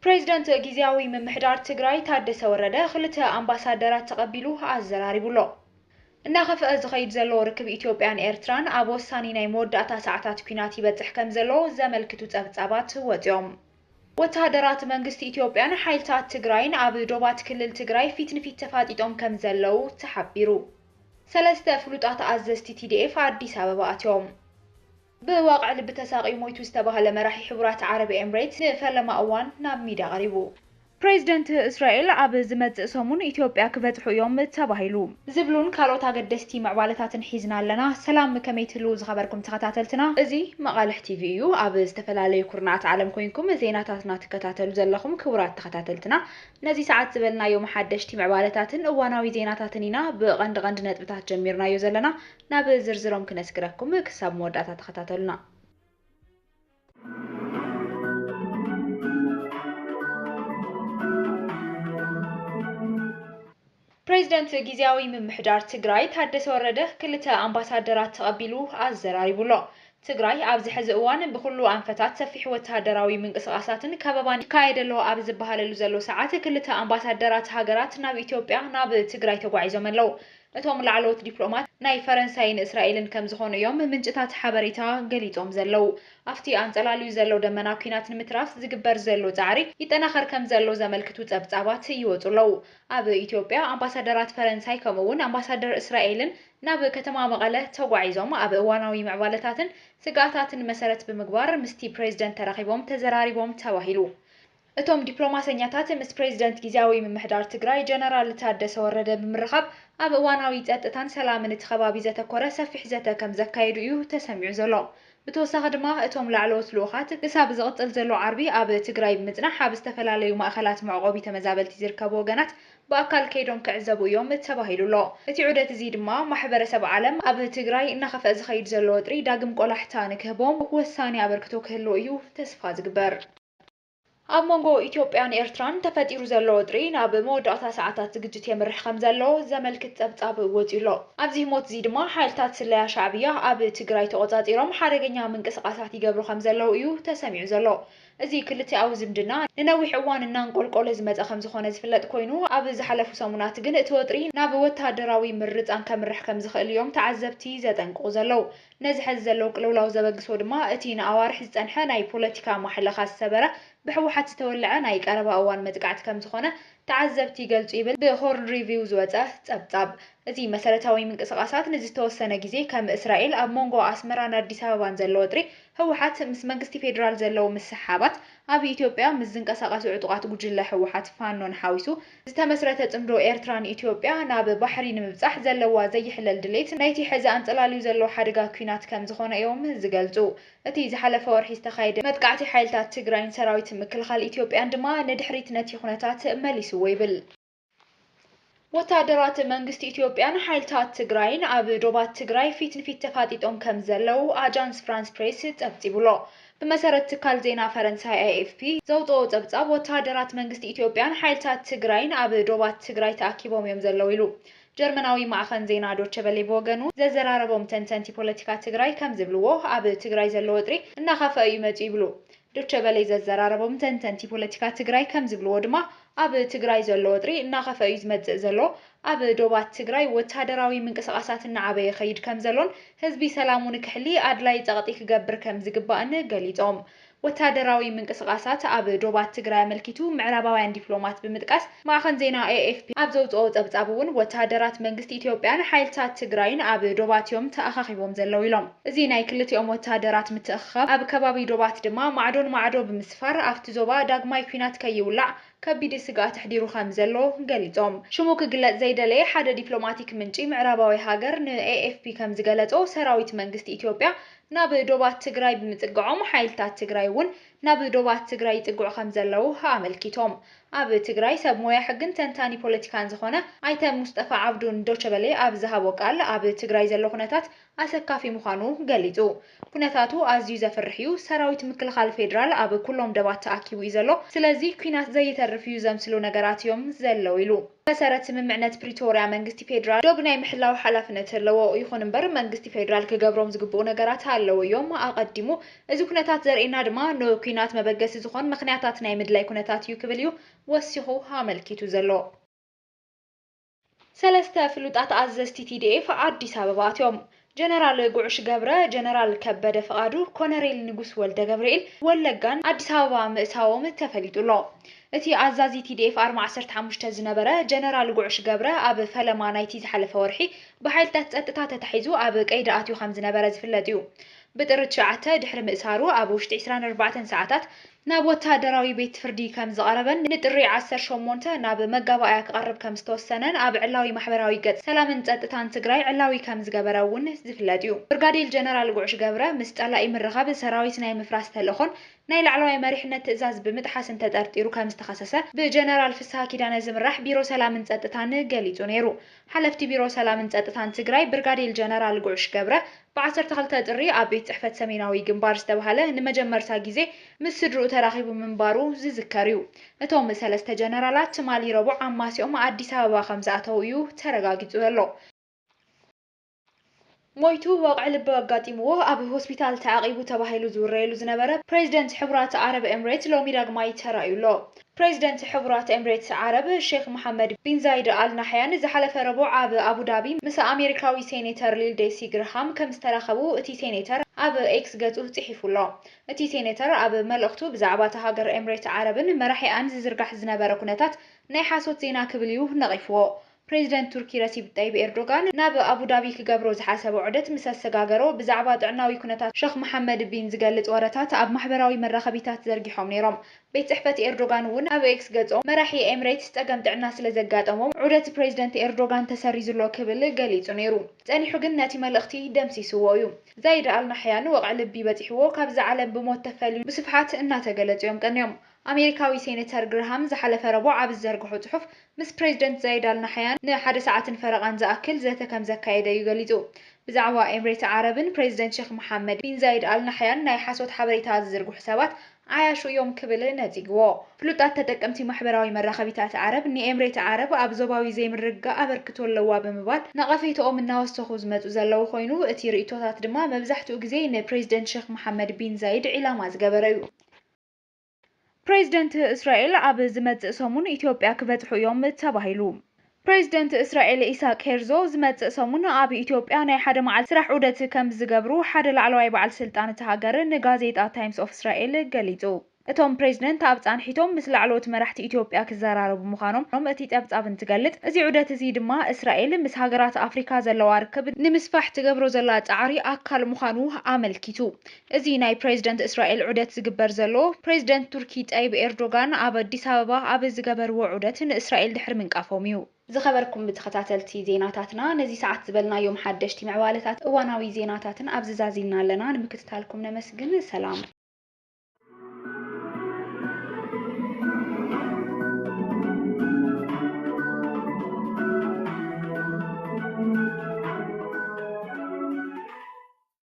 ፕሬዚደንት ጊዚያዊ ምምሕዳር ትግራይ ታደሰ ወረደ ክልተ ኣምባሳደራት ተቐቢሉ ኣዘራሪቡ ኣሎ። እናኸፍኣ ዝኸይድ ዘሎ ርክብ ኢትዮጵያን ኤርትራን ኣብ ወሳኒ ናይ መወዳእታ ሰዓታት ኲናት ይበፅሕ ከምዘሎ ዘመልክቱ ፀብፃባት ወፂኦም። ወተሃደራት መንግስቲ ኢትዮጵያን ሓይልታት ትግራይን ኣብ ዶባት ክልል ትግራይ ፊት ንፊት ተፋጢጦም ከምዘለው ተሓቢሩ። ሰለስተ ፍሉጣት ኣዘዝቲ ቲዲኤፍ ኣዲስ ኣበባ ኣትዮም። ብዋቕዕ ልቢ ተሳቕዩ ሞይቱ ዝተባህለ መራሒ ሕቡራት ዓረብ ኤምሬት ንፈለማ እዋን ናብ ሚድያ ቐሪቡ። ፕሬዝደንት እስራኤል ኣብ ዝመጽእ ሰሙን ኢትዮጵያ ክበጽሑ እዮም ተባሂሉ። ዝብሉን ካልኦት ኣገደስቲ ምዕባለታትን ሒዝና ኣለና። ሰላም ከመይ ትህልዉ ዝኸበርኩም ተኸታተልትና። እዚ መቓልሕ ቲቪ እዩ። ኣብ ዝተፈላለዩ ኩርናዓት ዓለም ኮይንኩም ዜናታትና ትከታተሉ ዘለኹም ክቡራት ተኸታተልትና ነዚ ሰዓት ዝበልናዮም ሓደሽቲ ምዕባለታትን እዋናዊ ዜናታትን ኢና ብቐንዲ ቐንዲ ነጥብታት ጀሚርናዮ ዘለና ናብ ዝርዝሮም ክነስግረኩም ክሳብ መወዳእታ ተኸታተሉና። ፕሬዝደንት ጊዚያዊ ምምሕዳር ትግራይ ታደሰ ወረደ ክልተ ኣምባሳደራት ተቐቢሉ ኣዘራሪቡ ኣሎ። ትግራይ ኣብዚ ሕዚ እዋን ብኹሉ ኣንፈታት ሰፊሕ ወተሃደራዊ ምንቅስቓሳትን ከበባን ይካየድ ኣሎ ኣብ ዝበሃለሉ ዘሎ ሰዓት ክልተ ኣምባሳደራት ሃገራት ናብ ኢትዮጵያ ናብ ትግራይ ተጓዒዞም ኣለው። እቶም ላዕለዎት ዲፕሎማት ናይ ፈረንሳይን እስራኤልን ከምዝኾኑ እዮም ምንጭታት ሓበሬታ ገሊፆም ዘለዉ። ኣፍቲ ኣንፀላልዩ ዘሎ ደመና ኲናት ንምትራፍ ዝግበር ዘሎ ፃዕሪ ይጠናኸር ከምዘሎ ዘመልክቱ ፀብፃባት ይወፁ ኣለዉ። ኣብ ኢትዮጵያ ኣምባሳደራት ፈረንሳይ ከምኡ እውን ኣምባሳደር እስራኤልን ናብ ከተማ መቐለ ተጓዒዞም ኣብ እዋናዊ ምዕባለታትን ስግኣታትን መሰረት ብምግባር ምስቲ ፕሬዝደንት ተራኺቦም ተዘራሪቦም ተባሂሉ። እቶም ዲፕሎማሰኛታት ምስ ፕሬዚደንት ጊዚያዊ ምምሕዳር ትግራይ ጀነራል ታደሰ ወረደ ብምርኻብ ኣብ እዋናዊ ፀጥታን ሰላምን እቲ ከባቢ ዘተኮረ ሰፊሕ ዘተ ከምዘካየዱ እዩ ተሰሚዑ ዘሎ። ብተወሳኺ ድማ እቶም ላዕለዎት ልኡኻት ክሳብ ዝቕፅል ዘሎ ዓርቢ ኣብ ትግራይ ብምፅናሕ ኣብ ዝተፈላለዩ ማእኸላት መዕቖቢ ተመዛበልቲ ዝርከቡ ወገናት ብኣካል ከይዶም ክዕዘቡ እዮም ተባሂሉ ኣሎ። እቲ ዑደት እዚ ድማ ማሕበረሰብ ዓለም ኣብ ትግራይ እናኸፍኣ ዝኸይድ ዘሎ ወጥሪ ዳግም ቆላሕታ ንክህቦም ወሳኒ ኣበርክቶ ክህልዎ እዩ ተስፋ ዝግበር። ኣብ መንጎ ኢትዮጵያን ኤርትራን ተፈጢሩ ዘሎ ወጥሪ ናብ መወዳእታ ሰዓታት እዚ ግጭት የምርሕ ከምዘሎ ዘመልክት ጸብጻብ ወጺኡ'ሎ። ኣብዚ ህሞት'ዚ ድማ ሓይልታት ስለያ ሻዕብያ ኣብ ትግራይ ተቖጻጺሮም ሓደገኛ ምንቅስቓሳት ይገብሩ ከምዘለዉ እዩ ተሰሚዑ ዘሎ። እዚ ክልቲኣዊ ዝምድና ንነዊሕ እዋን እናንቆልቆለ ዝመጸ ከምዝኾነ ዝፍለጥ ኮይኑ፣ ኣብ ዝሓለፉ ሰሙናት ግን እቲ ወጥሪ ናብ ወተሃደራዊ ምርጻን ከምርሕ ከምዝኽእል እዮም ተዓዘብቲ ዘጠንቅቑ ዘለዉ። ነዚ ሐዚ ዘለዉ ቅልውላው ዘበግሶ ድማ እቲ ንኣዋርሕ ዝፀንሐ ናይ ፖለቲካ ማሕለኻ ዝሰበረ ብሕወሓት ዝተወለዐ ናይ ቀረባ እዋን መጥቃዕቲ ከምዝኾነ ተዓዘብቲ ይገልፁ ይብል ብሆርን ሪቪው ዝወፀ ፀብፃብ። እዚ መሰረታዊ ምንቅስቓሳት ንዝተወሰነ ግዜ ከም እስራኤል ኣብ ሞንጎ ኣስመራን ኣዲስ ኣበባን ዘሎ ወጥሪ፣ ህወሓት ምስ መንግስቲ ፌዴራል ዘለዉ ምስሕሓባት፣ ኣብ ኢትዮጵያ ምስ ዝንቀሳቐሱ ዕጡቓት ጉጅለ ህወሓት ፋኖን ሓዊሱ ዝተመስረተ ጽምዶ ኤርትራ ንኢትዮጵያ ናብ ባሕሪ ንምብጻሕ ዘለዋ ዘይሕለል ድሌት ናይቲ ሕዚ ኣንጸላልዩ ዘሎ ሓደጋ ኲናት ከም ዝኾነ እዮም ዝገልጹ። እቲ ዝሓለፈ ወርሒ ዝተኻየደ መጥቃዕቲ ሓይልታት ትግራይን ሰራዊት ምክልኻል ኢትዮጵያን ድማ ንድሕሪት ነቲ ኩነታት መሊስዎ ይብል። ወተሃደራት መንግስቲ ኢትዮጵያን ሓይልታት ትግራይን ኣብ ዶባት ትግራይ ፊት ንፊት ተፋጢጦም ከም ዘለዉ ኣጃንስ ፍራንስ ፕሬስ ጸብጺቡ'ሎ። ብመሰረት ትካል ዜና ፈረንሳይ ኤኤፍፒ ዘውጽኦ ጸብጻብ፣ ወተሃደራት መንግስቲ ኢትዮጵያን ሓይልታት ትግራይን ኣብ ዶባት ትግራይ ተኣኪቦም እዮም ዘለዉ ኢሉ። ጀርመናዊ ማዕኸን ዜና ዶቸቨሌ ብወገኑ ዘዘራረቦም ተንተንቲ ፖለቲካ ትግራይ ከም ዝብልዎ፣ ኣብ ትግራይ ዘሎ ወጥሪ እናኸፍኣ እዩ መጺኡ ይብሉ። ዶቸቨሌ ዘዘራረቦም ተንተንቲ ፖለቲካ ትግራይ ከም ዝብልዎ ድማ፣ ኣብ ትግራይ ዘሎ ወጥሪ እናኸፍኣ እዩ ዝመጽእ ዘሎ፣ ኣብ ዶባት ትግራይ ወታደራዊ ምንቅስቓሳት እናዓበየ ይኸይድ ከምዘሎን ህዝቢ ሰላሙ ንክሕሊ ኣድላዪ ፀቕጢ ክገብር ከምዝግባእን ገሊፆም። ወታደራዊ ምንቅስቓሳት ኣብ ዶባት ትግራይ ኣመልኪቱ ምዕራባውያን ዲፕሎማት ብምጥቃስ ማዕኸን ዜና ኤኤፍፒ ኣብ ዘውፅኦ ፀብፃብ እውን ወታደራት መንግስቲ ኢትዮጵያን ሓይልታት ትግራይን ኣብ ዶባት እዮም ተኣኻኺቦም ዘለዉ ኢሎም። እዚ ናይ ክልቲኦም ወታደራት ምትእኽኻብ ኣብ ከባቢ ዶባት ድማ ማዕዶን ማዕዶ ብምስፋር ኣፍቲ ዞባ ዳግማይ ኲናት ከይውላዕ ከቢድ ስግኣት ኣሕዲሩ ከም ዘሎ ገሊጾም። ሽሙ ክግለጽ ዘይደለየ ሓደ ዲፕሎማቲክ ምንጪ ምዕራባዊ ሃገር ንኤኤፍፒ ከም ዝገለጾ፣ ሰራዊት መንግስቲ ኢትዮጵያ ናብ ዶባት ትግራይ ብምጽግዖም ሓይልታት ትግራይ እውን ናብ ዶባት ትግራይ ይጽግዑ ከም ዘለዉ ኣመልኪቶም። ኣብ ትግራይ ሰብ ሞያ ሕግን ተንታኒ ፖለቲካን ዝዀነ ኣይተ ሙስጠፋ ዓብዱ ንዶቸበሌ ኣብ ዝሃቦ ቃል፣ ኣብ ትግራይ ዘሎ ኵነታት ኣሰካፊ ምዃኑ ገሊጹ። ኩነታቱ ኣዝዩ ዘፍርሕ'ዩ፣ ሰራዊት ምክልኻል ፌደራል ኣብ ኩሎም ደባት ተኣኪቡ'ዩ ዘሎ፣ ስለዚ ኲናት ዘይተርፍ'ዩ ዘምስሉ ነገራት እዮም ዘለዉ ኢሉ። ብመሰረት ስምምዕነት ፕሪቶርያ መንግስቲ ፌደራል ዶብ ናይ ምሕላው ሓላፍነት ኣለዎ፣ ይኹን'ምበር መንግስቲ ፌደራል ክገብሮም ዝግብኡ ነገራት ኣለዉ እዮም፣ ኣቐዲሙ እዚ ኩነታት ዘርእየና ድማ ንኲናት መበገሲ ዝኾን ምኽንያታት ናይ ምድላይ ኩነታት'ዩ ክብል'ዩ ወሲኹ ኣመልኪቱ ዘሎ። ሰለስተ ፍሉጣት ኣዘዝቲ ቲዲኤፍ ኣዲስ ኣበባ ኣትዮም። ጀነራል ጉዕሽ ገብረ፣ ጀነራል ከበደ ፍቓዱ፣ ኮነሬል ንጉስ ወልደገብርኤል ወለጋን ኣዲስ ኣበባ ምእታዎም ተፈሊጡ ኣሎ። እቲ ኣዛዚ ቲዲኤፍ ኣርማ ዓሰርተ ሓሙሽተ ዝነበረ ጀነራል ጉዕሽ ገብረ ኣብ ፈለማ ናይቲ ዝሓለፈ ወርሒ ብሓይልታት ጸጥታ ተታሒዙ ኣብ ቀይዲ ኣትዩ ከምዝነበረ ዝፍለጥ እዩ። ብጥሪ ትሽዓተ ድሕሪ ምእሳሩ ኣብ ውሽጢ ዕስራን ኣርባዕተን ሰዓታት ናብ ወተሃደራዊ ቤት ፍርዲ ከም ዝቐረበን ንጥሪ ዓሰርተ ሸሞንተ ናብ መጋባእያ ክቐርብ ከም ዝተወሰነን ኣብ ዕላዊ ማሕበራዊ ገጽ ሰላምን ጸጥታን ትግራይ ዕላዊ ከም ዝገበረ እውን ዝፍለጥ እዩ። ብርጋዴል ጀነራል ጉዕሽ ገብረ ምስ ጸላኢ ምርኻብ ሰራዊት ናይ ምፍራስ ተልእኾን ናይ ላዕለዋይ መሪሕነት ትእዛዝ ብምጥሓስን ተጠርጢሩ ከም ዝተኸሰሰ ብጀነራል ፍስሃ ኪዳነ ዝምራሕ ቢሮ ሰላምን ጸጥታን ገሊጹ ነይሩ። ሓለፍቲ ቢሮ ሰላምን ፀጥታን ትግራይ ብርጋዴል ጀነራል ጉዕሽ ገብረ ብ ዓሰርተ ክልተ ጥሪ ኣብ ቤት ፅሕፈት ሰሜናዊ ግንባር ዝተብሃለ ንመጀመርታ ግዜ ምስ ስድርኡ ተራኺቡ ምንባሩ ዝዝከር ዩ። እቶም ሰለስተ ጀነራላት ትማሊ ረቡዕ ኣማሲኦም ኣዲስ ኣበባ ከምዝኣተዉ ዩ ተረጋጊፁ ዘሎ። ሞይቱ ወቕዒ ልቢ ኣጋጢምዎ ኣብ ሆስፒታል ተዓቚቡ ተባሂሉ ዝውረየሉ ዝነበረ ፕሬዝደንት ሕቡራት ዓረብ ኤምሬት ሎሚ ዳግማይ ተራእዩ ኣሎ። ፕሬዝደንት ሕቡራት ኤምሬት ዓረብ ሼኽ መሓመድ ቢን ዛይድ ኣል ናሕያን ዝሓለፈ ረቡዕ ኣብ ኣቡዳቢ ምስ ኣሜሪካዊ ሴኔተር ሊልዴሲ ግርሃም ከምዝተራኸቡ እቲ ሴኔተር ኣብ ኤክስ ገጹ ጽሒፉ ኣሎ። እቲ ሴኔተር ኣብ መልእኽቱ ብዛዕባ እታ ሃገር ኤምሬት ዓረብን መራሒኣን ዝዝርጋሕ ዝነበረ ኩነታት ናይ ሓሶት ዜና ክብል'ዩ ነቒፍዎ። ፕሬዚደንት ቱርኪ ረሲብ ጠይብ ኤርዶጋን ናብ ኣቡዳቢ ክገብሮ ዝሓሰቦ ዑደት ምስ ኣሰጋገሮ ብዛዕባ ጥዕናዊ ኩነታት ሸኽ መሓመድ ቢን ዝገልፅ ወረታት ኣብ ማሕበራዊ መራኸቢታት ዘርጊሖም ነይሮም። ቤት ፅሕፈት ኤርዶጋን እውን ኣብ ኤክስ ገፆም መራሒ ኤምሬትስ ፀገም ጥዕና ስለዘጋጠሞም ዑደት ፕሬዚደንት ኤርዶጋን ተሰሪዙ'ሎ ክብል ገሊፁ ነይሩ ፀኒሑ ግን ነቲ መልእኽቲ ደምሲሱዎ እዩ። ዛይድ ኣል ናሕያን ወቕዒ ልቢ በፂሑዎ ካብዛ ዓለም ብሞት ተፈልዩ ብስፍሓት እናተገለፁ እዮም ቀንዮም። ኣሜሪካዊ ሴነተር ግርሃም ዝሓለፈ ረቡዕ ኣብ ዝዘርግሖ ጽሑፍ፣ ምስ ፕሬዝደንት ዛይድ ኣል ናሕያን ንሓደ ሰዓትን ፈረቓን ዝኣክል ዘተ ከምዘካየደ'ዩ ገሊጹ። ብዛዕባ ኤምሬት ዓረብን ፕሬዝደንት ሼኽ መሓመድ ቢን ዛይድ ኣል ናሕያን ናይ ሓሶት ሓበሬታ ዝዝርግሑ ሰባት ዓያሹ እዮም ክብል ነጺግዎ። ፍሉጣት ተጠቀምቲ ማሕበራዊ መራኸቢታት ዓረብ፣ ንኤምሬት ዓረብ ኣብ ዞባዊ ዘይምርግጋእ ኣበርክቶ ኣለዋ ብምባል ነቐፌታኦም እናወሰኹ ዝመጹ ዘለዉ ኮይኑ፣ እቲ ርእይቶታት ድማ መብዛሕትኡ ግዜ ንፕሬዝደንት ሼኽ መሓመድ ቢን ዛይድ ዒላማ ዝገበረ'ዩ። ፕሬዚደንት እስራኤል ኣብ ዝመፅእ ሰሙን ኢትዮጵያ ክበፅሑ እዮም ተባሂሉ። ፕሬዚደንት እስራኤል ኢሳቅ ሄርዞ ዝመፅእ ሰሙን ኣብ ኢትዮጵያ ናይ ሓደ መዓልቲ ስራሕ ዑደት ከምዝገብሩ ሓደ ላዕለዋይ በዓል ስልጣን እታ ሃገር ንጋዜጣ ታይምስ ኦፍ እስራኤል ገሊፁ። እቶም ፕሬዚደንት ኣብ ፃንሒቶም ምስ ላዕለዎት መራሕቲ ኢትዮጵያ ክዘራረቡ ምዃኖም እቲ ፀብፃብ እንትገልፅ፣ እዚ ዑደት እዚ ድማ እስራኤል ምስ ሃገራት ኣፍሪካ ዘለዋ ርክብ ንምስፋሕ ትገብሮ ዘላ ፃዕሪ ኣካል ምዃኑ ኣመልኪቱ። እዚ ናይ ፕረዚደንት እስራኤል ዑደት ዝግበር ዘሎ፣ ፕረዚደንት ቱርኪ ጠይብ ኤርዶጋን ኣብ ኣዲስ ኣበባ ኣብ ዝገበርዎ ዑደት ንእስራኤል ድሕሪ ምንቃፎም እዩ። ዝኸበርኩም ተኸታተልቲ ዜናታትና ነዚ ሰዓት ዝበልናዮም ሓደሽቲ ምዕባለታት እዋናዊ ዜናታትን ኣብዚ ዛዚምና ኣለና ንምክትታልኩም ነመስግን ሰላም።